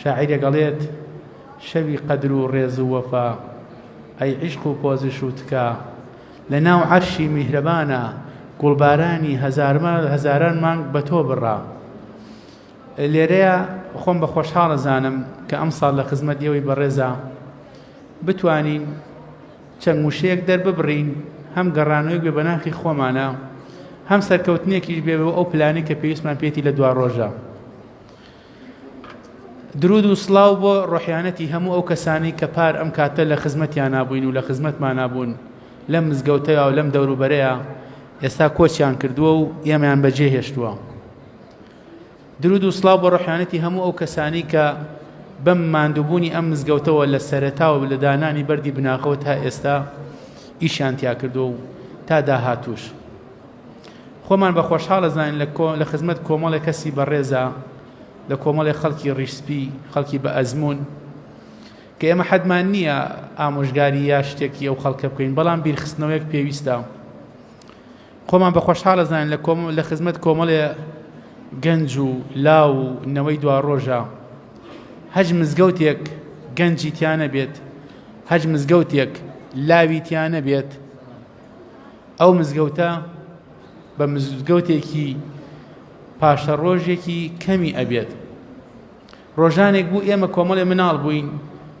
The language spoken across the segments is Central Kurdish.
شاعیر دەگەڵێت، شەوی قەدر و ڕێز و وەفا، ئەی عیشق و پۆزش و تکا، لە ناو عەرشی میهرەبانا، گوڵبارانی هەزاران مانگ بە تۆ بڕا. لێرەیە خۆم بە خۆشحاڵ ئەزانم کە ئەمساڵ لە خزمەت ئێوەی بەڕێزا بتوانین چەند وشەیەک دەرببڕین هەم گەڕانەوەی بێ بەناخی خۆمانە هەم سەرکەوتنێکیش بێ ئەو پلانی کە پێویستمان پێێتی لە دوا ڕۆژە درود و سڵاو بۆ ڕۆحیانەتی هەموو ئەو کەسانی کە پار ئەم کاتە لە خزمەتیان نابووین و لە خزمەتمان نابوون لەم مزگەوتەیە و لەم دەوروبەرەیە ئێستا کۆچیان کردووە و ئێمەیان بەجێ هێشتووە درود و سڵاو بۆ ڕۆحیانەتی هەموو ئەو کەسانی کە بەم ماندووبوونی ئەم مزگەوتەوە لە سەرەتا و لە دانانی بەردی بناغەوە تا ئێستا ئیشیان تیا کردو و تا داهاتوش خۆمان بە خۆشحاڵ ئەزانین لە کۆ لە خزمەت کۆمەڵێک کەسی بەڕێزا لە کۆمەڵێک خەڵکی ڕیشسپی خەڵکی بە ئەزمون کە ئێمە حەدمان نییە ئامۆژگاری یا شتێکی ئەو خەڵکە بکەین بەڵام بیرخستنەوەیەک پێویستە خۆمان بە خۆشحاڵ ئەزانین لە کۆم لە خزمەت کۆمەڵێ گەنج و لاو و نەوەی دوا ڕۆژە هەج مزگەوتێک گەنجی تیانە بێت هەج مزگەوتێک لاوی تیانە بێت ئەو مزگەوتە بە مزگەوتێکی پاشە ڕۆژێکی کەمی ئەبێت ڕۆژانێک بوو ئێمە کۆمەڵێ مناڵ بووین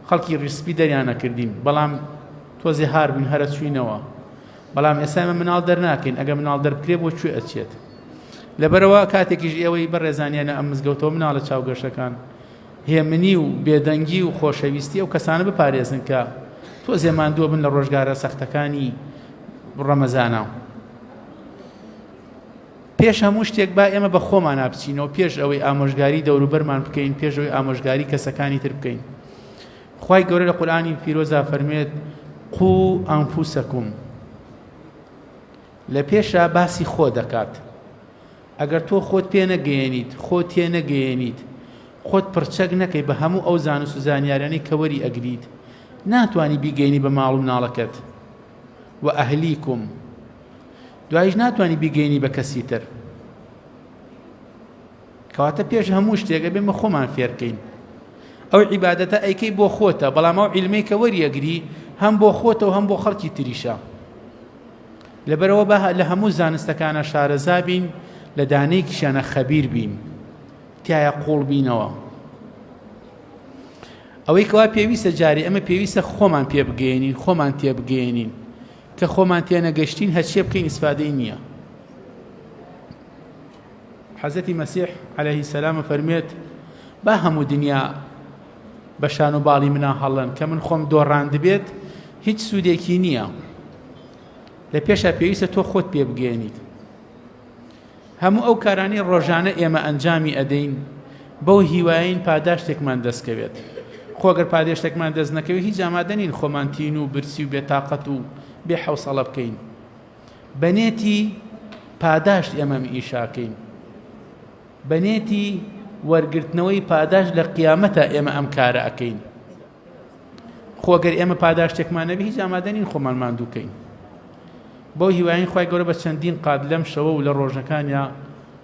خەڵکی ڕیسپی دەریانە کردین بەڵام تۆزێ هار بووین هەرە چوینەوە بەڵام ئێسامە مناڵ دەرناکەین ئەگە مناڵ دەربکرێ بۆ کوێ ئەچێت لەبەرەوە کاتێکیش ئێوەی بەڕێزانیانە ئەم مزگەوتەوە مناڵە چاوگەشەکان هێمنی و بێدەنگی و خۆشەویستی ئەو کەسانە بپارێزن کە تۆزێ ماندووە بن لە ڕۆژگارە سەختەکانی ڕەمەزانە پێش هەموو شتێک با ئێمە بە خۆمان نابچینەوە پێش ئەوەی ئامۆژگاری دەوروبەرمان بکەین پێش ئەوەی ئامۆژگاری کەسەکانی تر بکەین خی گەورە لە قورآانی پیرۆزا فەرمێت قو ئەمفوسەکوم لە پێشە باسی خۆ دەکات ئەگەر تۆ خۆت پێ نەگەیەنیت، خۆت تێ نەگەیەنیت، خۆت پڕچەک نەکەی بە هەموو ئەو زانست و زانیاریانەی کە وەری ئەگریت، ناتوانی بیگەیەنی بە ماڵ و مناڵەکەت، و اهلیکم، دوایش ناتوانی بیگەیەنی بە کەسی تر. کەواتە پێش هەموو شتێک ئەبێ مە خۆمان فێرکەین. ئەو عیبادەتە ئەیکەی بۆ خۆتە بەڵام ئەو عیلمەی کە وەریەگری هەم بۆ خۆتە و هەم بۆ خەڵکی تریشە لەبەرئەوە با لە هەموو زانستەکانە شارەزا بین لە دانەیەکیشیانە خەبیر بین تایە قوڵ بینەوە ئەوەی کەوا پێویستە جاری ئەمە پێویستە خۆمان پێ بگەێنین خۆمان تێ بگەێنین کە خۆمان تێنەگەشتین هەچێ بکەین ئیسفادەی نییە حەزەتی مەسیح عليهەیهی سەلامە فەرمێت با هەموو دنیا بە شان و باڵی منا هەڵەن کە من خۆم دۆڕاندبێت هیچ سوودێکی نییە لە پێشە پێویستە تۆ خۆت پێ بگەێنیت هەموو ئەو کارانی ڕۆژانە ئێمە ئەنجامی ئەدەین بەو هیواین پاداشتێکمان دەستکەوێت خۆگەر پادێشتێکمان دەست نەکەوێت هیچ ئامادەنین خۆمان تین و برسی و بێتاقەت و بێ حوسەڵە بکەین بەنێتی پاداشت ئێمەم ئیشاکەین بەنیەتی وەرگرتنەوەی پاداشت لە قیامەتە ئێمە ئەم کارە ئەکەین خۆگەر ئێمە پاداشتێکمان نەبی هیچ ئامادەنین خۆمان ماندووکەین بەو هیواین خی گەورە بە چەندین قات لەم شەوە و لە ڕۆژەکانیا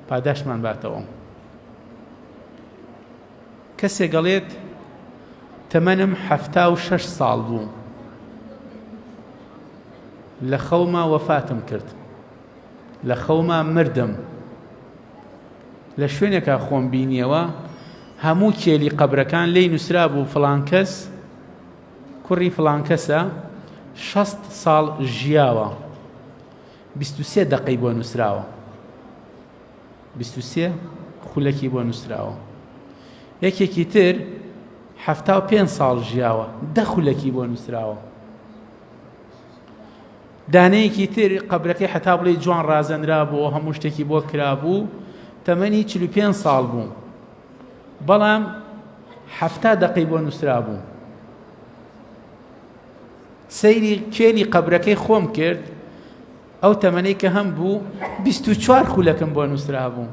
پاداشتمان باتەوە کەسێ گەڵێت تەمەنم حەفتا و شەش ساڵ بوو لە خەوما وەفاتم کرد لە خەوما مردم لە شوێنێکا خۆم بینیەوە هەموو کێلی قەبرەکان لی نووسرا بوو فلانکەس کوڕی فلانکەسە شەست ساڵ ژیاوە سێ دقی بۆ نووسراوە سێ خولەکی بۆ نووسراوە یەکێکی تر حەفتا و پێ ساڵ ژیاوە دە خولەکی بۆ نووسراوە دانەیەکی تر قەبرەکەی هەتا بڵێی جوان ڕازێنرابووەوە، هەموو شتێکی بۆ کرابوو، تەمەنی چل و پێنج ساڵ بوو، بەڵام حەفتا دەقەی بۆ نووسرابوو. سەیری کێلی قەبرەکەی خۆم کرد، ئەو تەمەنەی کە هەم بوو بیست و چوار خولەکم بۆ نووسرابوو،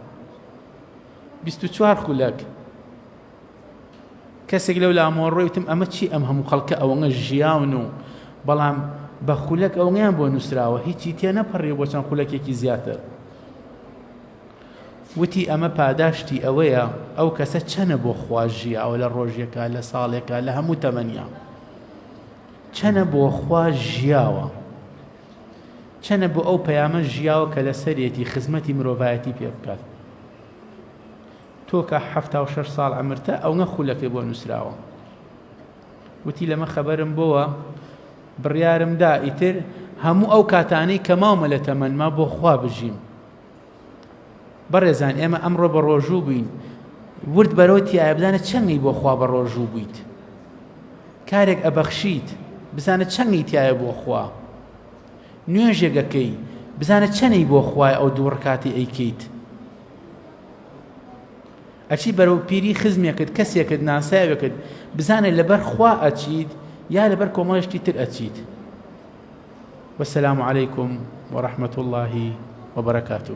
بیست و چوار خولەک. کەسێک لەو لامۆڕۆی وتم ئەمە چی ئەم هەموو خەڵکە ئەوەنە ژیاون و بەڵام بە خولەک ئەوەیان بۆ نووسراوە هیچی تێ نەپەڕی بۆ چەند خولەکێکی زیاتر وتی ئەمە پاداشتی ئەوەیە ئەو کەسە چەنە بۆ خواژیە ئەو لە ڕۆژێکە لە ساڵێکە لە هەموو تەمەنیا چەنە بۆ خوا ژیاوە چەنە بۆ ئەو پەیامە ژیاوە کە لەسەرێتی خزمەتی مرۆڤایەتی پێ بکات تۆ کە حەفتا و شەش ساڵ عەمرتە ئەونە خولەکێ بۆ نوسراوە؟ وتی لەمە خەبەرم بۆوە بڕیارم دا ئیتر هەموو ئەو کاتانەی کە ماومە لە تەمەنما بۆ خوا بژیم بەڕێزان ئێمە ئەمڕۆ بە ڕۆژوو بووین ورد بەرەوە تایە بدانە چەنگی بۆ خوا بە ڕۆژوو بوویت کارێک ئەبەخشیت بزانە چەنگی تایە بۆ خوا نوێژێگەکەی بزانە چەنەی بۆ خوای ئەو دوو ڕکاتی ئەیکەیت ئەچی بەرەو پیری خزمێکت کەسێکت ناساوێکت بزانێت لەبەر خوا ئەچیت یا لەبەر کۆمەڵشتی تر ئەچیت والسلام عليكم ورحمة الله وبركاته